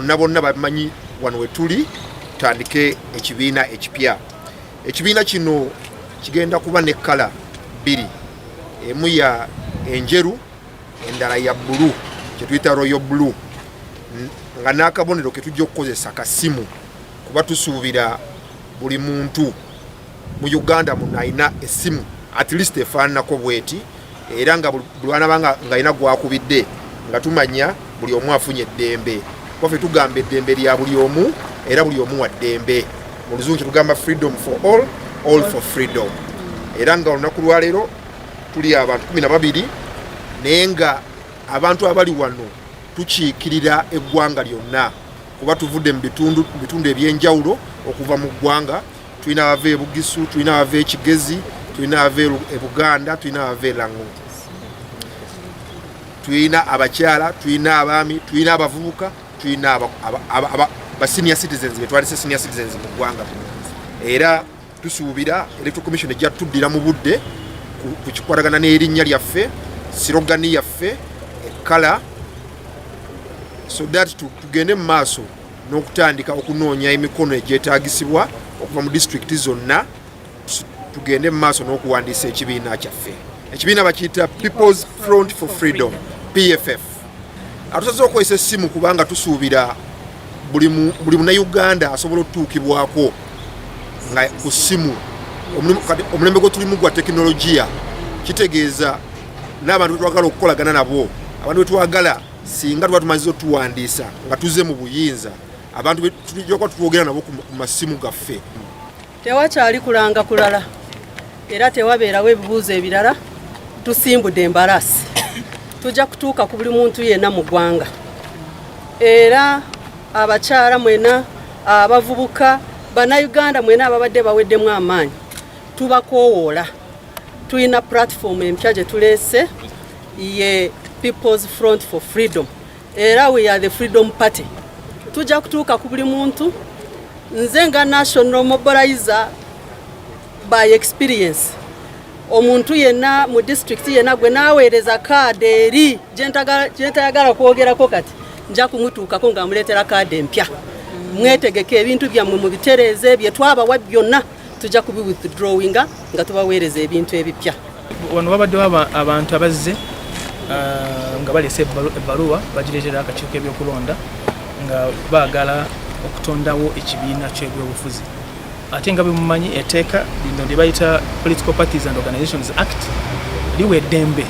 bonna bonna bamanyi wano wetuli tutandike ekibiina ekipya ekibiina kino kigenda kuba ne kkala bbiri emu ya enjeru endala ya bulu kyetuyita royo bulu nga n'akabonero ketujja okukozesa kasimu kuba tusuubira buli muntu mu uganda muno alina esimu at least efaananako bweti era nga bulwanaba nga alina gwakubidde nga tumanya buli omu afunye eddembe kubafe tugamba eddembe lya buli omu era buli omu wa ddembe mu luzungu kyetugamba freedom for all all for freedom era nga olunaku lwaleero tuli abantu kumi na babiri naye nga abantu abali wano tukiikirira eggwanga lyonna kuba tuvudde mu bitundu ebyenjawulo okuva mu ggwanga tulina abava e bugisu tulina abava e kigezi tulina abava e buganda tulina abava e lango tulina abakyala tulina abaami tulina abavubuka tulina ba senior citizens betwalise senior citizens mu ggwanga era Tusuubira Electoral Commission ejja tuddira mu budde ku kikwatagana n'erinnya lyaffe, sirogani yaffe, ekkala so that tugende mu maaso n'okutandika okunoonya emikono egyetaagisibwa okuva mu disitulikiti zonna tugende mu maaso n'okuwandiisa ekibiina kyaffe ekibiina bakiyita people's front for freedom pff atusaze okozesa essimu kubanga tusuubira buli munauganda asobola otutuukibwako nga ku ssimu omulembe gwe tulimu gwa tekinologiya kitegeeza n'abantu betwagala okukolagana nabo abantu betwagala singa tuba tumaze otuwandiisa nga tuze mu buyinza abantu tujoka tutwogera nabo ku masimu gaffe Tewakyali kulanga kulala era tewabeerawo ebibuuzo ebirala tusimbudde embalaasi tujja kutuuka ku buli muntu yenna mu ggwanga era abakyala mwena abavubuka bannayuganda mwena ababadde baweddemu amaanyi tubakowoola tulina pulatifomu empya gye tuleese ye peoples front for freedom era we are the freedom party tujja kutuuka ku buli muntu nze nga national mobilizer by experience omuntu yenna mu district yenna gwe naweereza kaada eri gyentayagala kwogerako kati nja kumutuukako nga muleetera kaada empya mwetegeke ebintu byammwe mubitereeze byetwabawa byonna tujja kubi withdrawinga nga tubaweereza ebintu ebipya wano wabaddewo abantu abazze uh, nga balese ebbaluwa bagireetera akakiiko ebyokulonda nga baagala okutondawo ekibiina kyebyobufuzi ate nga bemumanyi eteeka lino lye bayita political parties and organizations act liwa eddembe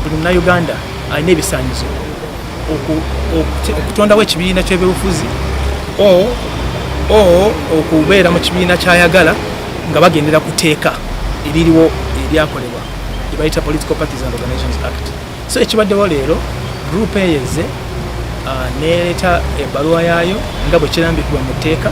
buli munauganda alina ebisanyizo okutondawo ekibiina ky'ebyobufuzi okubeera mu kibiina kyayagala nga bagendera ku teeka eririwo eryakolebwa ebayita political parties and organizations act so ekibaddewo leero group eyeze uh, nereeta ebbaluwa yaayo nga bwe kirambikibwa mu tteeka